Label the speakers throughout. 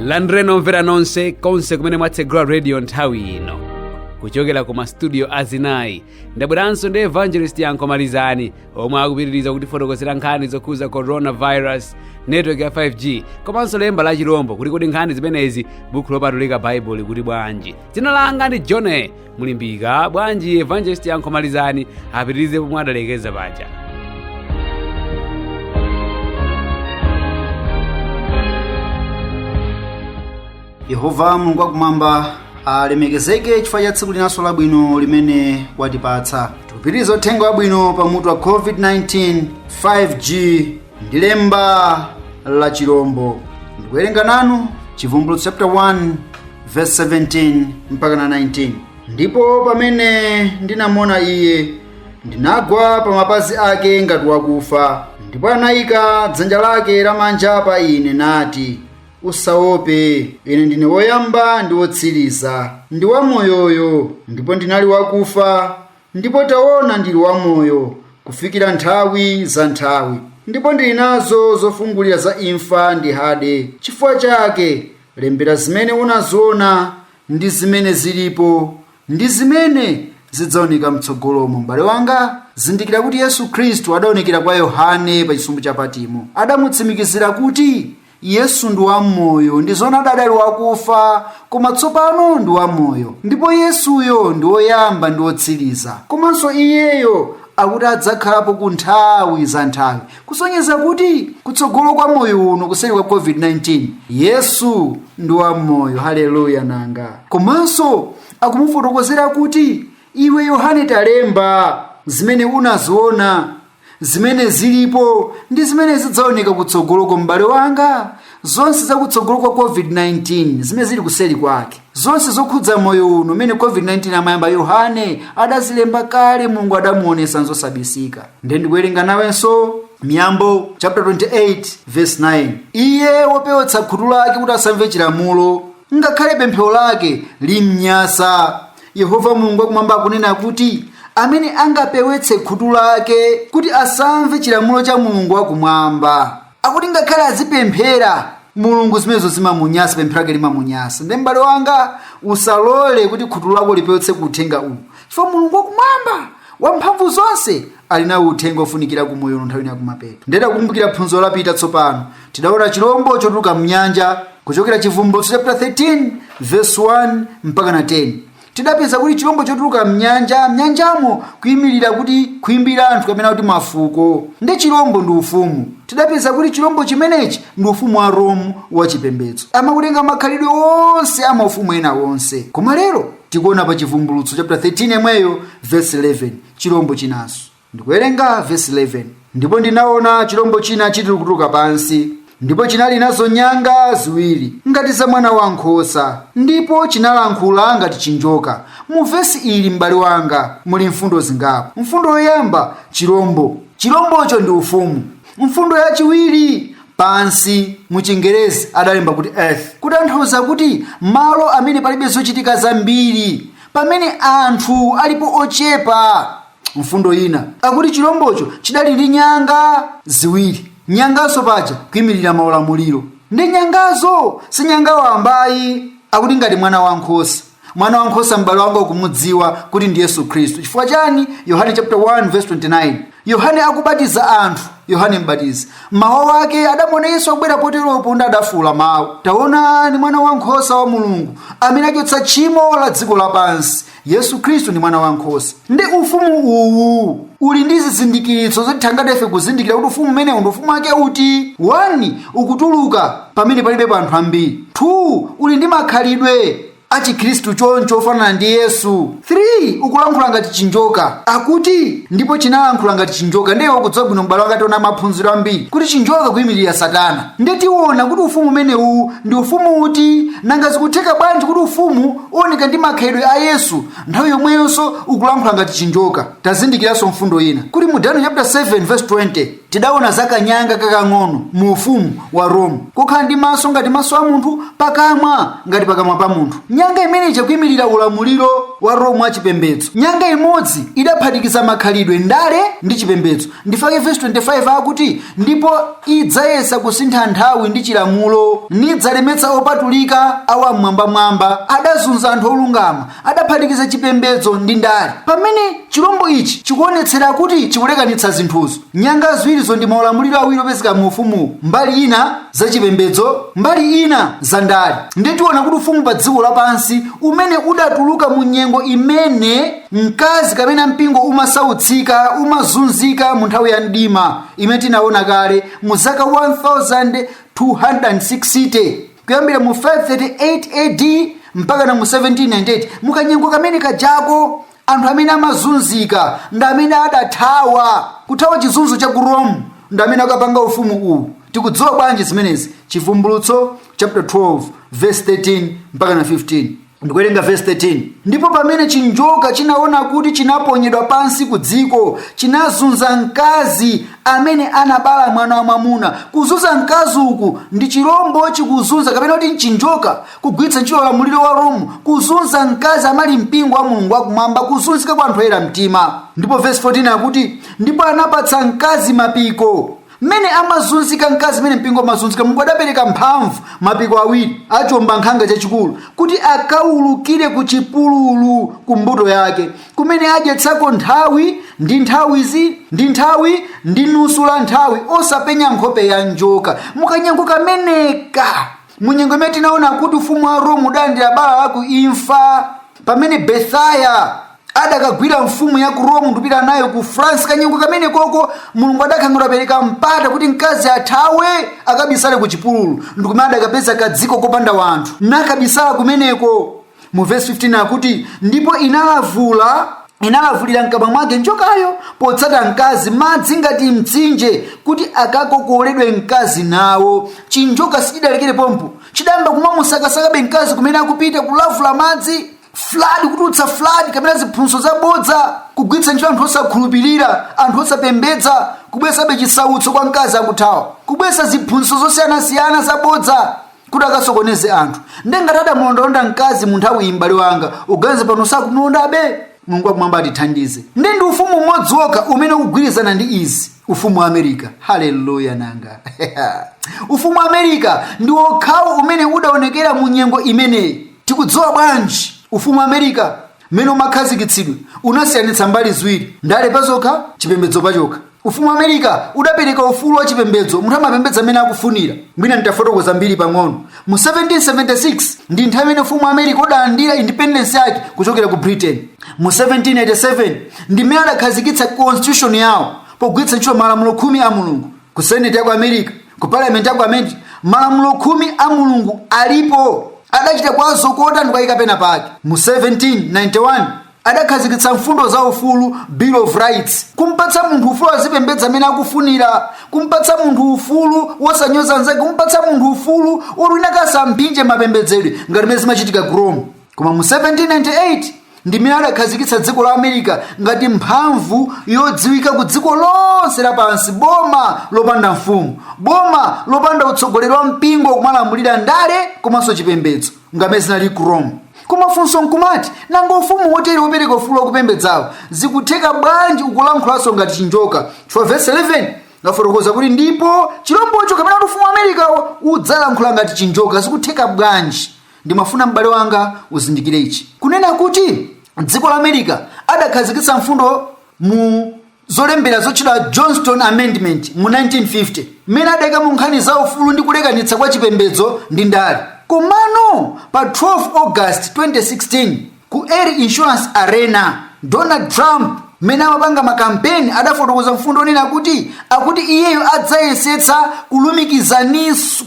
Speaker 1: landireni omvera nonse konse kumene mwatsegula radio nthawi ino kuchokera ku mastudio azinayi ndabweranso ndi evangelist yankho malizani omwe akupitiriza kutifotokozera nkhani zokhuza coronavirus network ya 5g komanso lemba la chilombo kuti kodi nkhani zimenezi buku lopatulika baibulo likuti bwanji dzina langa ndi john mulimbika bwanji evangelist yankho malizani apitirize pomwe adalekeza paja
Speaker 2: yehova mulungu wakumwamba alemekezeke chifukwa cha tsiku linanso labwino limene watipatsa tikupitiriza uthenga wabwino pa mutu wa covid-19 5g ndi lemba la chilombo ndikuwerenga nanu chivumbulutso chapter 1 verse 17 mpaka na 19 ndipo pamene ndinamuona iye ndinagwa pa mapazi ake ngati wakufa ndipo anayika dzanja lake lamanja pa ine nati usaope ine ndine woyamba ndi wotsiriza ndi wamoyoyo ndipo ndinali wakufa ndipo taona ndili wamoyo kufikira nthawi za nthawi ndipo ndili nazo zofungulira za imfa ndi hade chifukwa chake Lembera zimene unaziona ndi zimene zilipo ndi zimene zidzaoneka mtsogolomo. M'bale wanga, zindikira kuti Yesu Khristu adaonekera kwa Yohane pa chisumbu cha Patimo. Adamutsimikizira kuti Yesu ndi wamoyo ndi zoona adali wakufa koma tsopano ndi wamoyo. Ndipo Yesuyo ndi woyamba ndi wotsiriza. Komanso iyeyo akuti adzakhalapo ku nthawi za nthawi. kusonyeza kuti kutsogolo kwa moyo uno kuseri kwa covid-19 yesu ndi wamoyo haleluya nanga komanso akumufotokozera kuti iwe yohane talemba zimene unaziona zimene zilipo ndi zimene zidzaoneka kutsogoloko m'bale wanga zonse zakutsogolo kwa covid-19 zimene zili kuseri kwake zonse zokhudza moyo uno umene covid-19 amayamba yohane adazilemba kale mulungu adamuonetsa nzosabisika nde ndikuwerenga nawenso miyambo chapter 28 verse 9 iye wopewetsa khutu lake kuti asamve chilamulo ngakhale pemphero lake limnyasa yehova mulungu wakumwamba akunena kuti amene angapewetse khutu lake kuti asamve chilamulo cha mulungu wakumwamba akuti ngakhale azipemphera mulungu zimenezo zimamunyasa pemphero lake limamunyasa ndiye m'bale wanga usalole kuti khutu lako lipewetse ku uthenga uwu chifukwa mulungu wakumwamba wamphamvu zonse ali nawo uthenga ofunikira ku moyo uno nthawi ya kumapeto nde takumbukira phunziro lapita tsopano tidaona chilombo chotuluka mnyanja kuchokera chivumbulutso chapter 13 verse 1 mpaka na 10 Tidapeza kuti chilombo chotuluka m'nyanja, nyanjamo kuimirira kuti khwimbi la anthu kapena kuti mafuko. Nde chilombo ndi ufumu. Tidapeza kuti chilombo chimenechi ndi ufumu wa Rome wa chipembedzo. Amakutenga makhalidwe onse a maufumu ena onse. Koma lero tikuona pa Chivumbulutso chapter 13 yemweyo verse 11 chilombo chinanso. Ndikuwerenga vesi 11, Ndipo ndinaona chilombo china chilikutuluka pansi, ndipo chinali nazo nyanga ziwiri ngati za mwana wa nkhosa, ndipo chinalankhula ngati chinjoka. Mu vesi ili, m'bale wanga, muli mfundo zingapo. Mfundo yoyamba, chilombo. Chilombocho ndi ufumu. Mfundo yachiwiri, pansi, mu Chingerezi adalemba kuti earth, kutanthauza kuti malo amene palibe zochitika zambiri, pamene anthu alipo ochepa. mfundo ina akuti chilombocho chidali ndi nyanga ziwiri nyangazo paja kuyimirira maulamuliro ndi nyangazo si nyanga wamba ayi akuti ngati mwana wankhosa mwana wankhosa m'bale wanga ukumudziwa kuti ndi yesu khristu chifukwa chani yohane chapter 1 verse 29 yohane akubatiza anthu yohane mbatizi mawa wake adamuona yesu akubwera poteropo ndi adafuula mawu taona mwana wankhosa wa mulungu amene achotsa tchimo la dziko lapansi yesu khristu ndi mwana wa nkhosa ndi ufumu uwu uli ndi zizindikiritso zotithangatira ife kuzindikira kuti ufumu umenewu ndi ufumu wake uti 1 ukutuluka pamene palibe pa anthu ambiri 2 uli ndi makhalidwe achikhristu choncho ofanana ndi yesu 3 ukulankhula ngati chinjoka akuti ndipo chinalankhula ngati chinjoka ndiye ukudziwa bwino m'bale wanga tinaona m'maphunziro ambiri kuti chinjoka kuyimirira satana ndiye tiona kuti ufumu umenewu ndi ufumu uti nanga zikutheka bwanji kuti ufumu uoneka ndi makhalidwe a yesu nthawi yomweyonso ukulankhula ngati chinjoka tazindikiranso mfundo ina kuti mu daniel chapter 7 verse 20 tidaona za kanyanga kakang'ono mu ufumu wa rome kokhala ndi maso ngati maso a munthu pakamwa ngati pakamwa pa munthu nyanga imene ija kuimirira ulamuliro wa rome wa chipembedzo nyanga imodzi idaphatikiza makhalidwe ndale ndi chipembedzo ndi chake vesi 25 akuti ndipo idzayesa kusintha nthawi ndi chilamulo nidzalemetsa opatulika a wam'mwambamwamba adazunza anthu olungama adaphatikiza chipembedzo ndi ndale pamene chilombo ichi chikuonetsera kuti chikulekanitsa zinthuzo nyanga ziwirizo ndi maulamuliro awiri opezeka mu ufumu mbali ina za chipembedzo mbali ina za ndale ndiye tiona kuti ufumu pa dziko lapansi umene udatuluka mu nyengo imene mkazi kapena mpingo umasautsika umazunzika mu nthawi ya mdima imene tinaona kale mu zaka 1260 kuyambira mu 538 ad mpaka na mu 1798 mukanyengo kamene kajako anthu amene amazunzika ndi amene adathawa kuthawa chizunzo cha ku rome ndi amene akapanga ufumu uwu tikudziwa bwanji zimenezi chivumbulutso chapter 12 verse 13 mpaka na 15 ndikuwerenga vesi 13 ndipo pamene chinjoka chinaona kuti chinaponyedwa pansi ku dziko chinazunza mkazi amene anabala mwana wa mwamuna kuzunza mkazi uku ndi chilombo chikuzunza kapena kuti n'chinjoka kugwiritsa ntchito ulamuliro wa rome kuzunza mkazi amene ali mpingo wa mulungu wakumwamba kuzunzika kwa anthu oyera mtima ndipo vesi 14 akuti ndipo anapatsa mkazi mapiko mmene amazunzika mkazi mmene mpingo umazunzika mulungu adapereka mphamvu mapiko awiri a chiombankhanga chachikulu kuti akaulukire ku chipululu ku mbuto yake kumene adyetsako nthawi ndi nthawi zi ndi nthawi ndi nusu la nthawi osapenya nkhope ya njoka mu kanyengo kameneka mu nyengo imene tinaona kuti ufumu wa rome udalandira bala la ku imfa pamene berthier adakagwira mfumu ya ku rome ndi kupita nayo ku france kanyengo kamenekoko mulungu adakhala ngati adapereka mpata kuti mkazi athawe akabisale ku chipululu ndikumene adakapeza kadziko kopanda wanthu nakabisala kumeneko mu vesi 15 akuti ndipo inalavula inalavulira mkamwa mwake njokayo potsata mkazi madzi ngati mtsinje kuti akakokoledwe mkazi nawo chinjoka sichidalekere pompo chidayamba kumamusakasakabe mkazi kumene akupita kulavula madzi flood kutulutsa flood kapena ziphunzitso zabodza kugwiritsa ntchito anthu osakhulupirira anthu osapembedza kubweretsabe chisautso kwa mkazi akuthawa kubweretsa ziphunzitso zosiyanasiyana zabodza kuti akasokoneze anthu nde ngati adamulondalonda mkazi mu nthawiyi m'bale wanga uganiza pano sakumulondabe mulungu wakumwamba atithandize nde ndi ufumu umodzi wokha umene ukugwirizana ndi izi ufumu wa america haleluya nanga ufumu wa america ndi wokhawo umene udaonekera mu nyengo imeneyi tikudziwa bwanji ufumu wa america mmene umakhazikitsidwa unasiyanitsa mbali ziwiri ndale pazokha chipembedzo pachokha Ufumu wa America udapereka ufulu wa chipembedzo, munthu amapembedza mmene akufunira. Mwina nditafotokoza mbiri pang'ono. Mu 1776 ndi nthawi imene ufumu wa America udalandira independence yake kuchokera ku Britain. Mu 1787 ndi mmene adakhazikitsa constitution yawo pogwiritsa ntchito malamulo khumi a Mulungu. Ku Senate ya ku America, ku Parliament ya ku America, malamulo khumi a Mulungu alipo. Adachita kuwazokota n'kuwayika pena pake. Mu 1791 adakhazikitsa mfundo za ufulu bill of rights kumpatsa munthu ufulu azipembedza mmene akufunira kumpatsa munthu ufulu wosanyoza nzake kumpatsa munthu ufulu woti wina akasamphinje mapembedzedwe ngati mmene zimachitika ku rome koma mu 1798 ndi mmene adakhazikitsa dziko la america ngati mphamvu yodziwika ku dziko lonse lapansi boma lopanda mfumu boma lopanda utsogoleri wa mpingo kumalamulira ndale komanso chipembedzo ngammene zinali ku rome koma funso nkumati nanga ufumu wotere wopereka ufulu wakupembedzawo zikutheka bwanji ukulankhulanso ngati chinjoka chifukwa vesi 11 ngafotokoza kuti ndipo chilombocho kapena kuti ufumu wa amerikawo udzalankhula ngati chinjoka zikutheka bwanji ndimafuna m'bale wanga uzindikire ichi kunena kuti dziko la america adakhazikisa mfundo mu zolembera zotchedwa johnson amendment mu 1950 mmene adaika mu nkhani za ufulu ndi kulekanitsa kwa chipembedzo ndi ndale komano pa 12 august 2016 ku erie insurance arena donald trump mmene amapanga makampeni adafotokoza mfundo yonena kuti akuti iyeyo adzayesetsa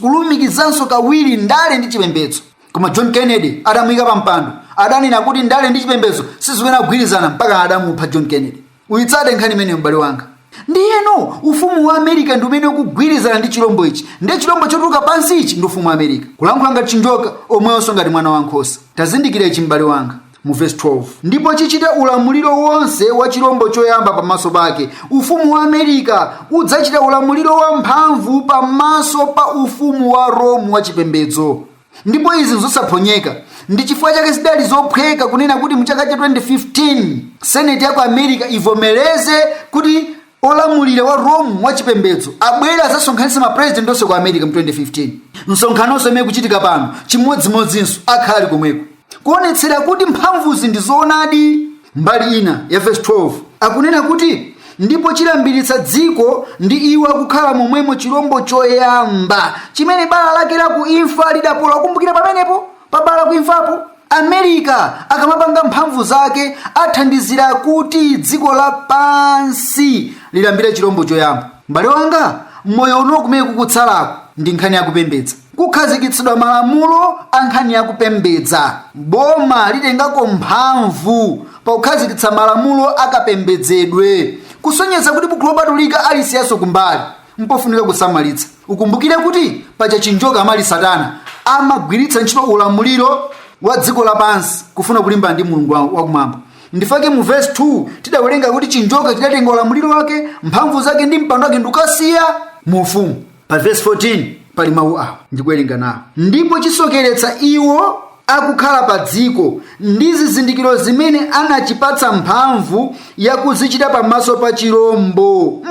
Speaker 2: kulumikizanso kawiri ndale ndi chipembedzo koma john kennedy adamuyika pa mpando adanena kuti ndale ndi chipembedzo sizikuyenera kugwirizana mpaka adamupha john kennedy uyitsate nkhani imeneyo m'bale wanga ndiyeno ufumu wa america ndi umene ukugwirizana ndi chilombo ichi ndi chilombo chotuluka pansichi ndi ufumu wa america kulankhula ngati chinjoka omweyonso ngati mwana wa nkhosa tazindikira ichi m'bale wanga mu vesi 12 ndipo chichita ulamuliro wonse wa chilombo choyamba pamaso pake ufumu wa america udzachita ulamuliro wamphamvu pamaso pa ufumu wa rome wa chipembedzo ndipo izi nzosaphonyeka ndi chifukwa chake zidali zophweka kunena kuti mu chaka cha 2015 seneti ya ku america ivomereze kuti olamulira wa rome wa chipembedzo abwere azasonkhanitse mapresident onse ku america mu 2015 msonkhanonso imene ikuchitika pano chimodzimodzinso akhala ali komweko kuonetsera kuti mphamvuzi ndi zoonadi Mbali ina ya vesi 12 akunena kuti, Ndipo chilambiritsa dziko ndi iwo akukhala momwemo chirombo choyamba, chimene bala lake la ku imfa lidapola. Kumbukira pamenepo, pa bala la ku imfapo, Amerika akamapanga mphamvu zake athandizira kuti dziko lapansi lilambire chirombo choyamba. M'bale wanga, moyo uno kumene kukutsalako ndi nkhani ya kupembedza. Kukhazikitsidwa malamulo a nkhani ya kupembedza. Boma litengako mphamvu pakukhazikitsa malamulo a kapembedzedwe. Kusonyeza kuti Buku Lopatulika alisiyaso kumbali mpofunika kusamalitsa. Ukumbukire kuti paja chinjoka amene ali satana amagwiritsa ntchito ulamuliro wa dziko lapansi kufuna kulimbana ndi Mulungu wakumwamba. Ndifake mu vesi 2 tidawerenga kuti chinjoka chidatenga ulamuliro wake, mphamvu zake ndi mpando wake ndikasiya mu ufumu. pa vesi 14 pali mawu awa ndikuwerenga nawo ndipo chisokeretsa iwo akukhala pa dziko ndi zizindikiro zimene anachipatsa mphamvu yakuzichita pamaso pa chirombo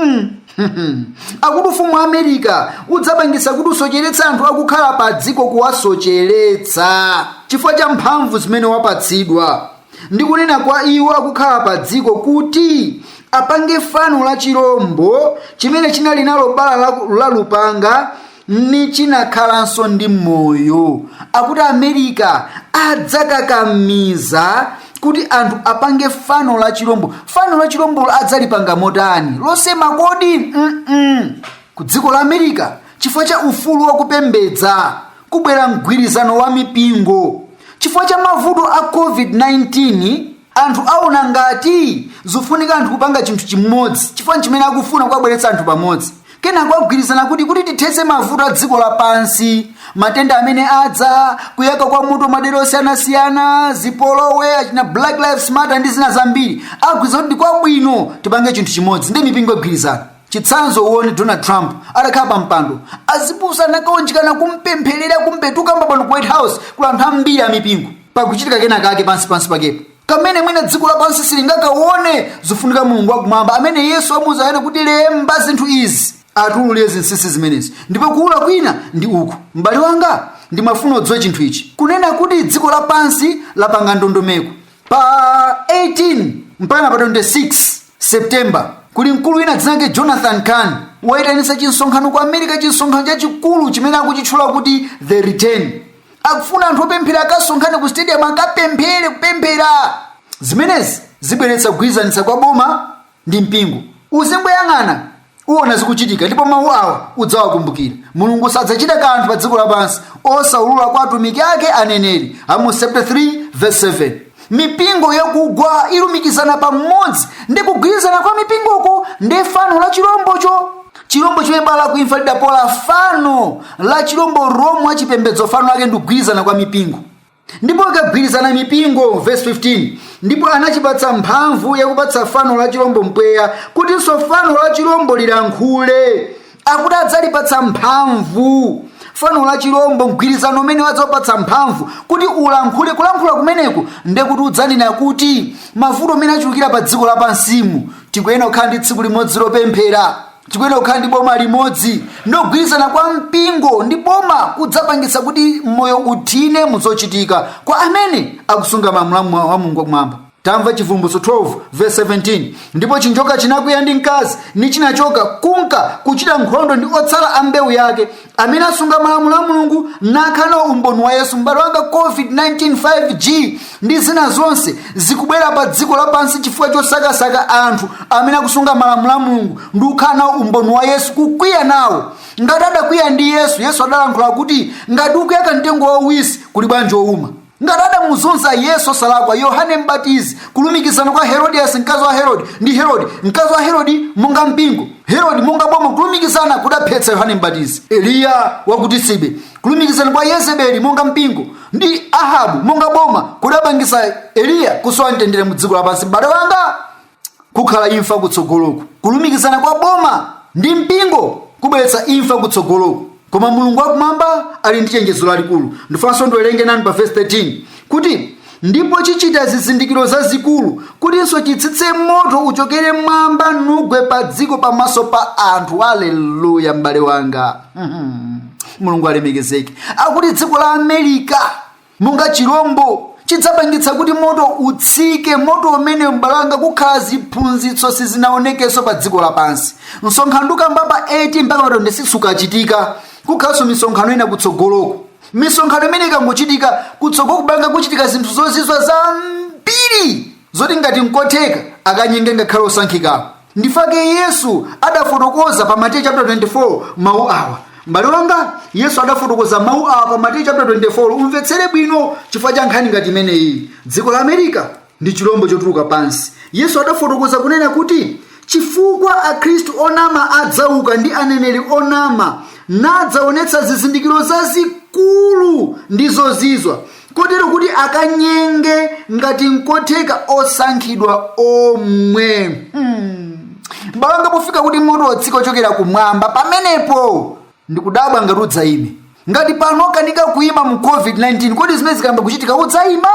Speaker 2: akuti ufumu wa amerika udzapangisa kuti usocheretsa anthu akukhala pa dziko kuwasocheretsa chifukwa cha mphamvu zimene wapatsidwa ndi kunena kwa iwo akukhala pa dziko kuti apange fano la chirombo chimene chinali nalo bala la- la lupanga ni chinakhalanso ndi moyo akuti amerika adzakakamiza kuti anthu apange fano la chirombo fano la chirombolo adzalipanga motani losema kodi Mm-mm. ku dziko la amerika chifukwa cha ufulu wakupembedza kubwera mgwirizano wa mipingo Chifukwa cha mavuto a COVID-19, anthu aona ngati zofunika anthu kupanga chinthu chimodzi chifukwa nchimene akufuna kuwabweretsa anthu pamodzi kenako agwirizana kuti kuti tithetse mavuto a dziko lapansi matenda amene adza kuyaka kwa moto madera osiyanasiyana zipolowe achina black lives matter ndi zina zambiri agwirizana kuti kwabwino tipange chinthu chimodzi ndi mipingo igwirizana chitsanzo uone donald trump atakhala pa mpando azibusa anakaunjikana kumpempherera kumpetuka mbabano ku white house kula anthu ambiri amipingo pakuchitika kena kake pansi pansi pakepo kamene mwina dziko lapansi silingakaone zofunika mulungu wakumwamba amene yesu amuuza yohane kuti lemba zinthu izi atiululire zinsinsi zimenezi ndipo kuwulula kwina ndi uku m'bale wanga ndimafuna udziwe chinthu ichi kunena kuti dziko lapansi lapanga ndondomeko pa 18 mpaka pa 26 september kuli mkulu wina dzina lake jonathan cahn wayitanitsa chimsonkhano ku america chimsonkhano chachikulu chimene akuchitchula kuti the return akufuna anthu opemphera akasonkhane ku stadium akapemphere kupemphera zimenezi zibweretsa kugwirizanitsa kwa boma ndi mpingo uzimboyang'ana uona zikuchitika ndipo mawu awa udzawakumbukira mulungu sadzachita kanthu pa dziko lapansi osaulula kwa atumiki ake aneneri amosi chapter 3 verse 7 mipingo yakugwa ilumikizana pamodzi ndi kugwirizana kwa mipingoko ndi fano la chirombocho chirombo chimene bala la kuimfa lidapola fano la chirombo romu wachipembedzo fano lake ndikugwirizana kwa mipingo ndipo akagwirizana mipingo verse 15 ndipo anachipatsa mphamvu yakupatsa fano la chilombo mpweya kutinso fano la chilombo lilankhule akuti adzalipatsa mphamvu fano la chilombo mgwirizano umenewu adzaupatsa mphamvu kuti ulankhule kulankhula kumeneku ndekuti udzanena kuti mavuto amene achulukira pa dziko lapansimu tikuyenera kukhala ndi tsiku limodzi lopemphera tikuyenera kukhala ndi boma limodzi ndiye kugwirizana kwa mpingo ndi boma kudzapangitsa kuti moyo uthine muzochitika kwa amene akusunga malamulo a mulungu wakumwamba tamva chivumbulutso 12 verse 17 ndipo chinjoka chinakwiya ndi mkazi nichinachoka kunka kuchita nkhondo ndi otsala a mbewu yake amene asunga malamulo a mulungu nakhala nawo umboni wa yesu m'bale wanga covid-19 5g ndi zina zonse zikubwera pa dziko lapansi chifukwa chosakasaka anthu amene akusunga malamulo a mulungu ndi kukhala nawo umboni wa yesu kukwiya nawo ngati adakwiya ndi yesu yesu adalankhula kuti ngati ukuyaka mtengo wauwisi kuli bwanji wouma ngati adamuzunza yesu osalakwa yohane mbatizi kulumikizana kwa herodiyasi mkazi wa herodi ndi herodi mkazi wa herodi monga mpingo herodi monga boma kulumikizana kudaphetsa yohane mbatizi eliya wakutisibe kulumikizana kwa yezebeli monga mpingo ndi ahabu monga boma kudapangisa eliya kusowa mtendere mu dziko lapansi m'bale wanga kukhala imfa kutsogoloku kulumikizana kwa boma ndi mpingo kubweretsa imfa kutsogoloku koma mulungu wakumwamba ali ndi chenjezo lalikulu ndifunanso ndiwerenge nanu pa vesi 13 kuti ndipo chichita zizindikiro zazikulu kutinso chitsitse moto uchokere mmwamba nugwe pa dziko pamaso pa anthu aleluya m'bale wanga Mhm. mulungu alemekezeke akuti dziko la amerika monga chirombo chidzapangitsa kuti moto utsike moto umene m'bale wanga kukhala ziphunzitso sizinaonekenso pa dziko lapansi msonkhano tikukamba pa 18 mpaka pa 26 ukachitika kukhalanso misonkhano ina kutsogoloko misonkhano imene ikangochitika kutsogoloku m'bale wanga kuchitika zinthu zozizwa zambiri zoti ngati nkotheka akanyenge ngakhale osankhikawo nchifukwa chake yesu adafotokoza pa mateyu chapter 24 mawu awa m'bale wanga yesu adafotokoza mawu awa pa mateyu chapter 24 umvetsere bwino chifukwa cha nkhani ngati imeneyi dziko la amerika ndi chilombo chotuluka pansi yesu adafotokoza kunena kuti chifukwa akhristu onama adzauka ndi aneneri onama nadzaonetsa zizindikiro zazikulu ndi zozizwa kotero kuti akanyenge ngati nkotheka osankhidwa omwe hmm. m'bale wanga pofika kuti moto watsika wochokera kumwamba pamenepo ndikudabwa ngati udzayime ngati pano ukukanika kuyima mu covid-19 kodi zimene zikayamba kuchitika udzayima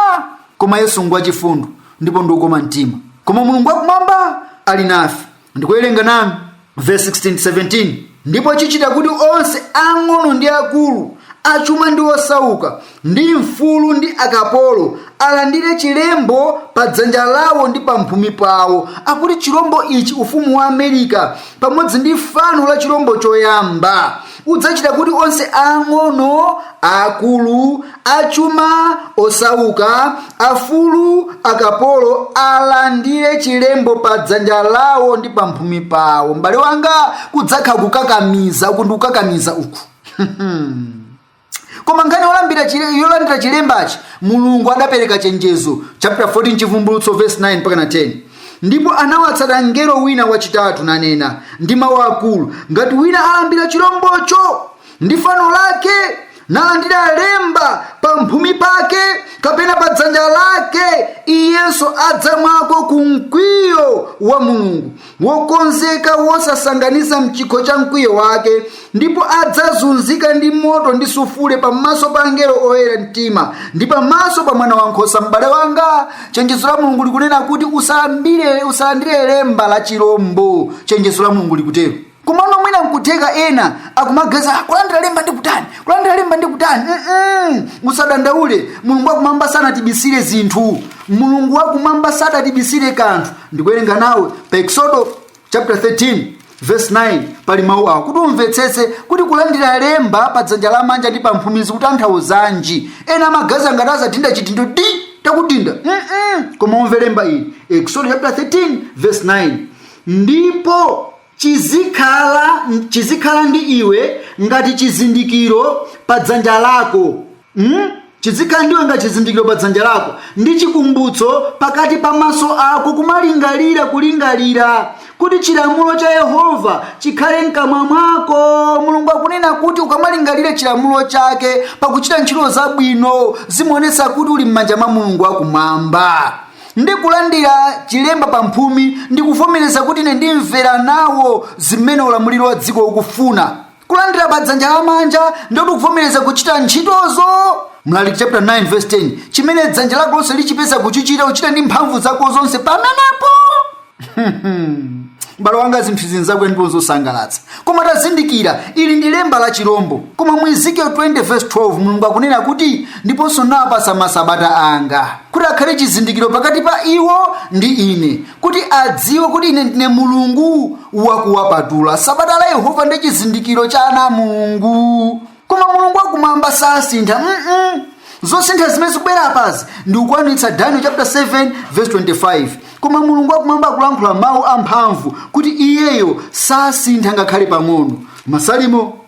Speaker 2: koma yesu ngwachifundo ndipo ndi wokoma mtima koma mulungu wakumwamba ali nafe ndikuwerenga nanu verse 16 17 ndipo chichita kuti onse ang'ono ndi akulu achuma ndi osauka ndi mfulu ndi akapolo alandire chilembo pa dzanja lawo ndi pa mphumi pawo akuti chilombo ichi ufumu wa amerika pamodzi ndi fano la chilombo choyamba udzachita kuti onse ang'ono akulu achuma osauka afulu akapolo alandire chilembo pa dzanja lawo ndi pamphumi pawo m'bale wanga kudzakhala kukakamiza uku ndi kukakamiza uku koma nkhani yolandira chilembachi mulungu adapereka chenjezo chapter 14 chivumbulutso verse 9 mpakana 10 ndipo anawatsata mngelo wina wachitatu nanena ndi mawu akulu ngati wina alambira chilombocho ndi fano lake nalandira lemba pa mphumi pake kapena pa dzanja lake iyenso adzamwako ku mkwiyo wa mulungu wokonzeka wosasanganiza mchikho cha mkwiyo wake ndipo adzazunzika ndi moto ndi sufule pamaso pa angelo oyera mtima ndi pamaso pa mwana wankhosa m'bale wanga chenjezo la mulungu likunena kuti usalandire lemba la chilombo chenjezo la mulungu likutero kumano mwina nkutheka ena akumaganiza "Ah, kulandira lemba ndi kutani kulandira lemba ndi kutani Mm-mm. usadandaule mulungu wakumwamba sanatibisire zinthu mulungu wakumwamba sadatibisire kanthu ndikuwerenga nawe pa eksodo chapter 13 verse 9 pali mawu awo kuti umvetsetse kuti kulandira lemba pa dzanja lamanja ndi pa mphumi zikutanthauzanji ena amaganiza ngati adzadinda chidindo ndi takudinda Mm-mm. koma umve lemba ili eksodo chapter 13 verse 9 ndipo chizikhala ndi iwe ngati chizindikiro pa dzanja lako Hmm? Chidzikhala ndiwe ngati chizindikiro pa dzanja lako ndi chikumbutso pakati pa maso ako kulingalira kuti chilamulo cha Yehova chikhale mkamwa mwako. Mulungu akunena kuti ukamalingalira chilamulo chake pakuchita ntchito zabwino zimaonetsa kuti uli m'manja mwa Mulungu wakumwamba ndi kulandira chilemba pa mphumi ndi kuvomereza kuti ine ndimvera nawo zimene ulamuliro wa dziko ukufuna kulandira pa dzanja lamanja ndi kuvomereza kuchita ntchitozo mlaliki chapter 9 verse 10 chimene dzanja lako lonse lichipeza kuchichita uchite ndi mphamvu zako zonse pamenepo m'bale wanga zinthu izi nzakwe ndipo nzosangalatsa koma tazindikira ili ndi lemba la chirombo koma mu ezekiel 20 verse 12 mulungu akunena kuti ndiponso ndinawapatsa masabata anga kuti akhale chizindikiro pakati pa iwo ndi ine kuti adziwe kuti ine ndine mulungu wakuwapatula sabata la yehova ndi chizindikiro cha ana a mulungu koma mulungu wakumwamba sasintha mm zosintha zimene zikubwera apazi ndi kukwanitsa daniel chapter 7 verse 25 koma mulungu wakumwamba akulankhula mawu amphamvu kuti iyeyo sasintha ngakhale pang'ono masalimo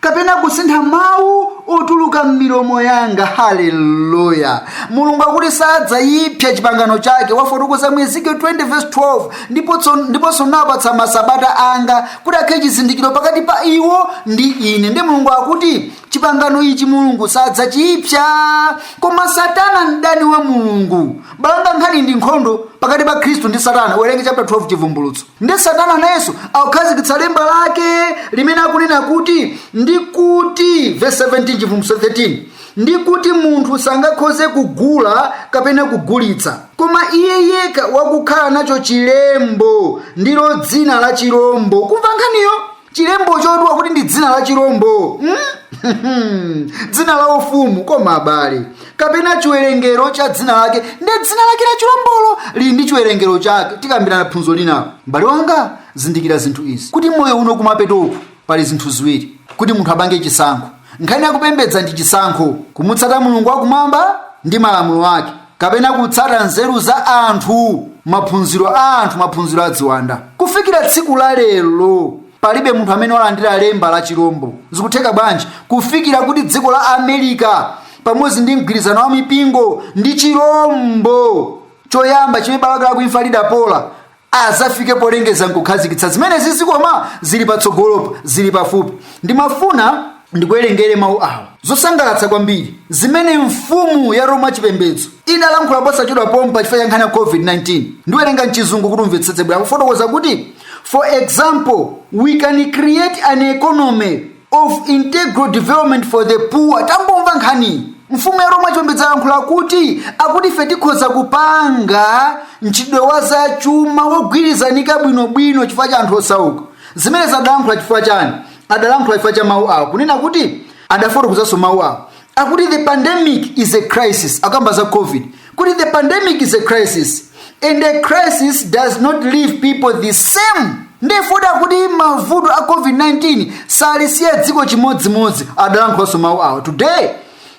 Speaker 2: kapena kusintha mawu otuluka m'milomo yanga haleluya mulungu akuti sadzayipsa chipangano chake wafotokoza mu ezekiel 20 verse 12 ndiponso nawapatsa masabata anga kuti akhale chizindikiro pakati pa iwo ndi ine ndi mulungu akuti chipangano ichi mulungu sadzachiipsa koma satana mdani wa mulungu m'bale wanga nkhani ndi nkhondo pakati pa khristu ndi satana werenga chapter 12 chivumbulutso nde satana nayenso akukhazikitsa lemba lake limene akunena kuti ndi kuti verse 17 chivumbulutso 13 ndi kuti munthu sangakhoze kugula kapena kugulitsa koma iye yekha wakukhala nacho chilembo ndilo dzina la chilombo kumva nkhaniyo chilembo chotchedwa kuti ndi dzina la chirombo hmm? dzina la ufumu koma abale kapena chiwerengero cha dzina lake ndi dzina lake la chirombolo lili ndi chiwerengero chake tikambirana phunzo linalo mbale wanga zindikira zinthu izi kuti moyo uno kumapetoku pali zinthu ziwiri kuti munthu apange chisankho nkhani yakupembedza ndi chisankho kumutsata mulungu wakumwamba ndi malamulo ake kapena kutsata nzeru za anthu maphunziro a anthu maphunziro a ziwanda kufikira tsiku la lero palibe munthu amene walandira lemba la chirombo zikutheka bwanji kufikira kuti dziko la america pamodzi ndi mgwirizano wa mipingo ndi chirombo choyamba chimene bala lake la ku imfa lidapola azafike polengeza nkukhazikitsa zimenezizi koma zili patsogolopa zili pafupi ndimafuna ndikuwerengere mawu awa zosangalatsa kwambiri zimene mfumu ya roma chipembedzo idalankhula posachedwa pompa chifukwa cha nkhani ya covid-19 ndiwerenga mchizungu kuti umvetsetse bwino akufotokoza kuti for example we can create an economy of integral development for the poor tamvani nkhaniyi mfumu ya roma chipembedzo yalankhula kuti akuti ife tikhoza kupanga mchitidwe wa zachuma wogwirizanika bwinobwino chifukwa cha anthu osauka zimenezi adalankhula chifukwa chani adalankhula chifukwa cha mawu awo kunena kuti adafotokozanso mawu awo akuti the pandemic is a crisis akamba za covid kuti the pandemic is a crisis and a crisis does not leave people the same ndefoti akuti mavuto a covid-19 salisiya dziko chimodzimodzi adalankhulaso mawu awa today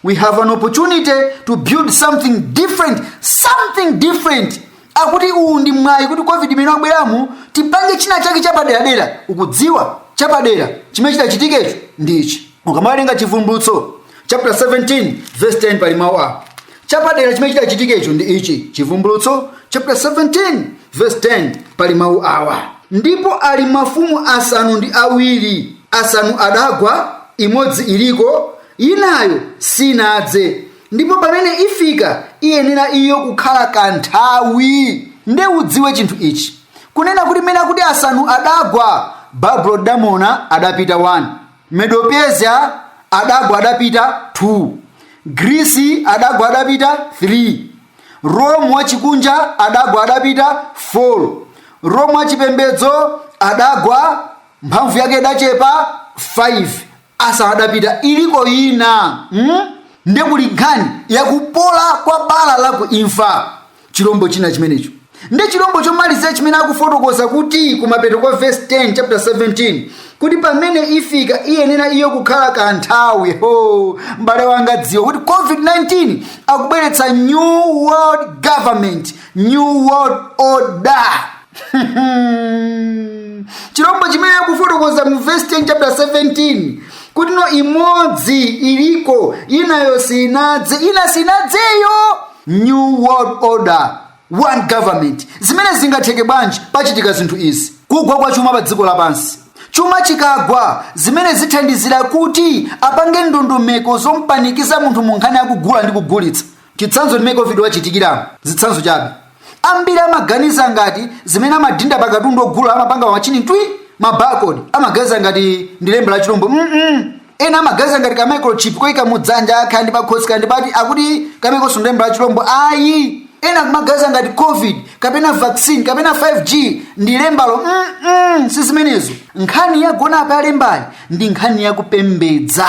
Speaker 2: we have an opportunity to build something different something different akuti uwu ndi mwayi kuti covid imene wabweramu tipange china chake chapaderadera ukudziwa chapadera chimene chitachitikecho ndi ichi ukamawerenga chivumbulutso chapter 17 verse 10 pali mawu awa chapadera chimene chitachitikecho ndi ichi chivumbulutso chapter 17 verse 10 pali mawu awa ndipo ali mafumu asanu ndi awiri asanu adagwa imodzi iliko inayo sinadze ndipo pamene ifika iyenera iyo kukhala kanthawi nde udziwe chinthu ichi kunena kuti mmene akuti asanu adagwa babulo lidagwa adapita 1 Medo-Persia adagwa adapita 2. Grisi adagwa adapita 3. Roma wachikunja adagwa adapita 4. Roma wachipembedzo adagwa mphamvu yake idachepa 5. Asanu adapita iliko ina hmm? nde kuli nkhani yakupola kwa bala la ku imfa chilombo china chimenecho ndi chilombo chomalizira chimene akufotokoza kuti kumapeto kwa verse 10 chapter 17 kuti pamene ifika iyenera iyo kukhala kanthawi o m'bale wanga dziwa kuti covid-19 akubweretsa new world government new world order chilombo chimene akufotokoza mu verse 10 chapter 17 kuti no imodzi iliko inayo sinadze ina sinadzeyo New World Order, One Government. Zimene zingatheke bwanji pachitika zinthu izi. Kugwa kwa chuma pa dziko lapansi. Chuma chikagwa zimene zithandizira kuti apange ndondomeko zompanikiza munthu mu nkhani yakugula ndi kugulitsa. Chitsanzo ndimene Covid wachitikira zitsanzo chabe. Ambiri amaganiza ngati zimene amadinda pa katundu ogula amapanga machini twi mabakodi amaganiza ngati ndi lemba la chilombo. Mm -mm. ena amaganiza ngati ka microchip koyika mu dzanja kaya ndi pakhosi kaya ndi pati akuti kamenekonso ndi lemba la chilombo ayi ena kumaganiza ngati covid kapena vaccine kapena 5g ndi lembalo mm-mm, si zimenezo nkhani yagona apa yalembayi ndi nkhani yakupembedza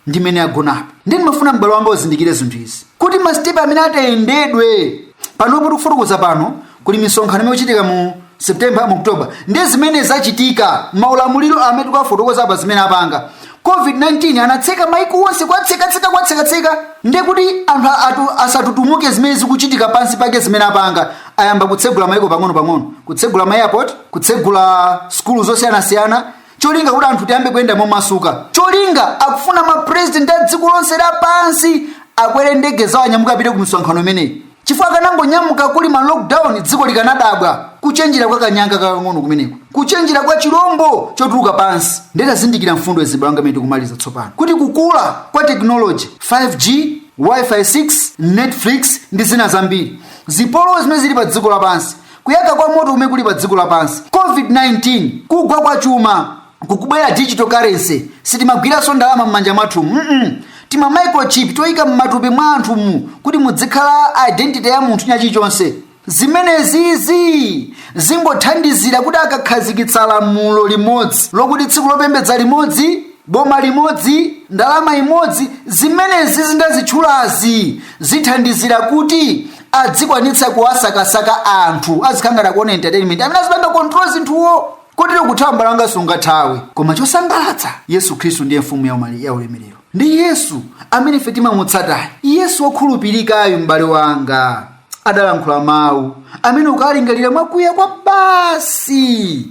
Speaker 2: ndimene yagonapo ndiye ndimafuna m'bale wanga uzindikire zinthu izi kuti masitepe amene atayendedwe panopo tikufotokoza pano kuli misonkhano imene ichitika mu september mu october ndi zimene zachitika maulamuliro amene tikufotokoza apa zimene apanga covid-19 anatseka maiko onse kwatsekatseka kwatsekatseka nde kuti anthu atu- asatutumuke zimene zikuchitika pansi pake zimene apanga ayamba kutsegula maiko pang'ono-pang'ono kutsegula ma airport kutsegula sukulu zosiyanasiyana cholinga kuti anthu tiyambe kuyenda momasuka cholinga akufuna mapresident a dziko lonse lapansi akwere ndege zawo anyamuke apite ku misonkhano imeneyi Chifukwa akanangonyamuka kuli ma lockdown dziko likanadabwa. Kuchenjera kwa kanyanga kakang'ono kumeneko. Kuchenjera kwa chilombo chotuluka pansi. Ndiye tazindikira mfundo izi m'bale wanga mmene tikumaliza tsopano. Kuti kukula kwa technology 5G, Wi-Fi 6, Netflix ndi zina zambiri. Zipolowe zimene zili pa dziko lapansi. Kuyaka kwa moto kumene kuli pa dziko lapansi. COVID-19, kugwa kwa chuma. kukubwera digital currency sitimagwiranso ndalama m'manja mwathu mm -mm. tima microchip toyika m'matupi mwa anthumu kuti mudzikhala identity ya munthu ndi chilichonse zimenezizi zingothandizira kuti akakhazikitsa lamulo limodzi lokuti tsiku lopembedza limodzi boma limodzi ndalama imodzi zimenezizi ndazitchulazi zithandizira kuti adzikwanitsa kuwasakasaka anthu azikangana kuona entertainment amene azipanga control zinthuo kotero kuthawa m'bale wanga sungathawe koma chosangalatsa yesu khristu ndiye mfumu ya umali- ya ulemerero ndi yesu amene ife timamutsatayo yesu wokhulupirikayo m'bale wanga adalankhula mawu amene ukalingalira mwakuya kwabasi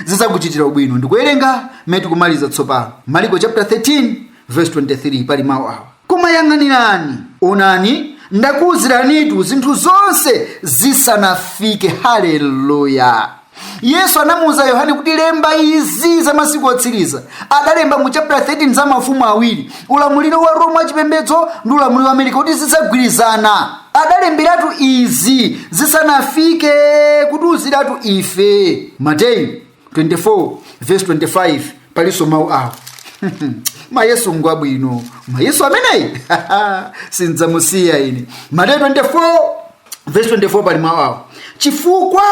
Speaker 2: zidzakuchitira ubwino ndikuwerenga mmene tikumaliza tsopano maliko chapter 13 Vesi 23 pali mawu awa, koma yang'anirani, onani ndakuwuziranitu zinthu zonse zisanafike. Haleluya! Yesu anamuwuza Yohane kuti lemba izi za masiku otsiriza. Adalemba mu chapter 13 za mafumu awiri, ulamuliro wa Roma wachipembedzo ndi ulamuliro wa Amerika kuti zidzagwirizana. Adalemberatu izi zisanafike kutiwuziratu ife. Mateyu 24 verse 25 palinso mawu awa ama Yesu ngwabwino ama Yesu ameneyi sindidzamusiya ine mateyu 24 verse 24 pali mawu awa chifukwa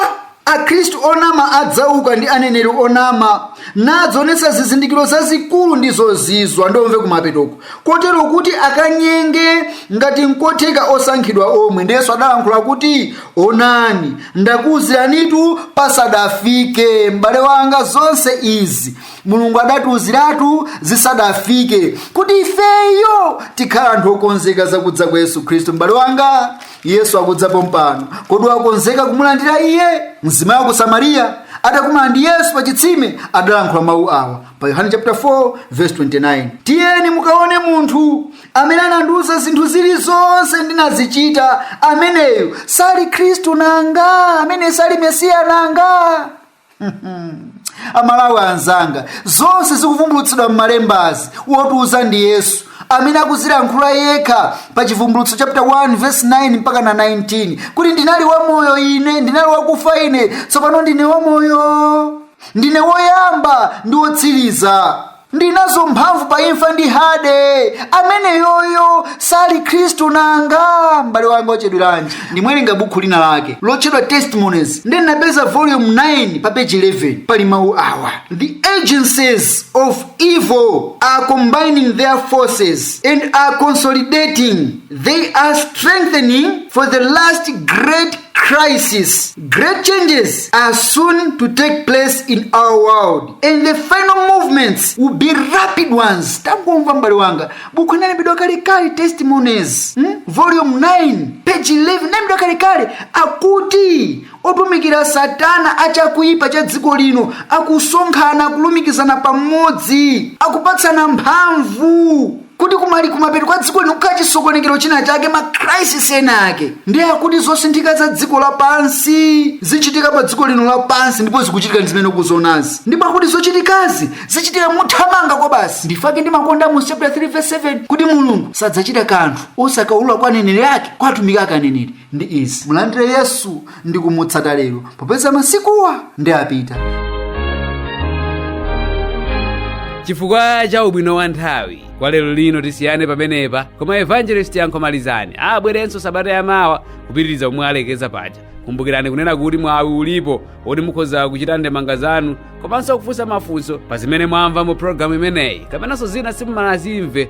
Speaker 2: akhristu onama adzauka ndi aneneri onama nadzaonetsa zizindikiro zazikulu ndi zozizwa ndiye umve kumapetoko kotero kuti akanyenge ngati nkotheka osankhidwa omwe ndiye Yesu adalankhula kuti onani ndakuuziranitu pasadafike m'bale wanga zonse izi mulungu adatiuziratu zisadafike kuti ifeyo tikhale anthu okonzeka za kudza kwa yesu khristu m'bale wanga yesu akudza pompano kodi wakonzeka kumulandira iye mzimayi wa ku samariya atakumana ndi yesu pa chitsime adalankhula mawu awa pa yohane chapter 4 verse 29 tiyeni mukaone munthu amene anandiuza zinthu zilizonse ndinazichita ameneyo sali khristu nanga ameneyi sali mesiya nanga amalawi anzanga zonse zikuvumbulutsidwa m'malembazi wotiuza ndi yesu amene akuzilankhula yekha pa chivumbulutso chapter 1 verse 9 mpakana 19 kuti ndinali wamoyo ine ndinali wakufa ine tsopano ndine wamoyo ndine woyamba ndi wotsiriza ndinazo mphamvu pa imfa ndi hade ameneyoyo sali khristu nanga m'bale wanga wachedweranji ndimawerenga bukhu lina lake lotchedwa testimonies nde ndinapeza volume 9 pa page 11 pali mawu awa the agencies of evil are combining their forces and are consolidating they are strengthening for the last great crisis great changes are soon to take place in our world and the final movements will be rapid ones tangomvani m'bale wanga bukhu inalembedwa kalekale testimonies hmm? volume 9 page 11 inalembedwa kalekale akuti otumikira satana achakuipa cha dziko lino akusonkhana kulumikizana pamodzi akupatsana mphamvu kuti kumali kumapeto kwa dziko lino kukhale chisokonekero china chake ma crisis ena ake ndiye akuti zosinthika za dziko lapansi zichitika pa dziko lino lapansi ndipo zikuchitika ndi zimene ukuzonazi ndipo akuti zochitikazi zichitika mothamanga kwabasi ndi chifukwa chake ndimakonda Amosi chapter 3 verse 7 kuti mulungu sadzachita kanthu osakaulula kwa aneneri ake kwa atumiki ake aneneri ndi izi mulandire yesu ndi kumutsata lero popeza masikuwa ndi
Speaker 1: apita chifukwa cha ubwino wa nthawi kwa lero lino tisiyane pamenepa koma evangelist Yankho Malizani abweranso sabata yamawa kupitiriza omwe alekeza paja kumbukirani kunena kuti mwawi ulipo woti mukhoza kuchita ndemanga zanu komanso kufunsa mafunso pa zimene mwamva mu programu imeneyi kapenanso zina simumanazimve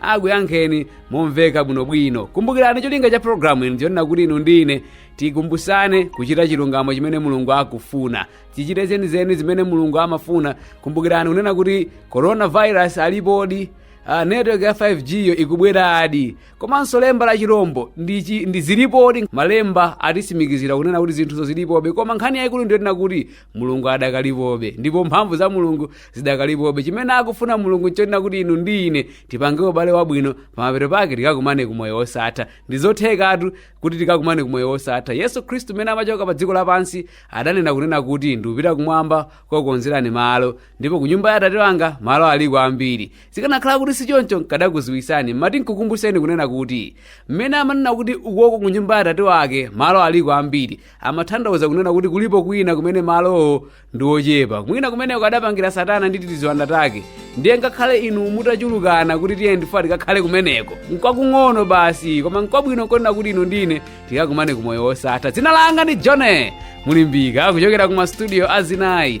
Speaker 1: akuyankheni momveka bwinobwino kumbukirani cholinga cha programu ino nchonena kuti inu ndi ine tikumbusane kuchita chilungamo chimene mulungu akufuna tichite zenizeni zimene mulungu amafuna kumbukirani kunena kuti coronavirus alipodi network ya 5g yo ikubweradi komanso lemba la chirombo ndi zilipodi malemba atisimikizira kunena kuti zinthuzo zilipobe koma nkhani yayikulu ndiyonena kuti mulungu adakalipobe ndipo mphamvu za mulungu zidakalipobe chimene akufuna mulungu nchonena kuti inu ndi ine tipange ubale wabwino pamapeto pake tikakumane ku moyo wosatha ndizothekatu kuti tikakumane ku moyo wosatha yesu khristu mmene amachoka pa dziko lapansi adanena kunena kuti ndikupita kumwamba kukonzerani malo ndipo ku nyumba ya atate wanga malo aliko ambiri zikanakhala kuti sichoncho nkadakuziwisani mmati nkukumbuseni kunena kuti mmene amanena kuti ukoko ku nyumba ya atate wake malo aliko ambiri amatanthauza kunena kuti kulipo kwina kumene malowo ndi ochepa mwina kumeneko adapangira satana ndi tiziwanda take ndiye ngakhale inu mutachulukana kuti tiye ndifuwa tikakhale kumeneko nkwakung'ono basi koma nkwabwino nkonena kuti inu ndi ine tikakumane ku moyo wosatha dzina langa ndi john mulimbika kuchokera ku mastudio azinayi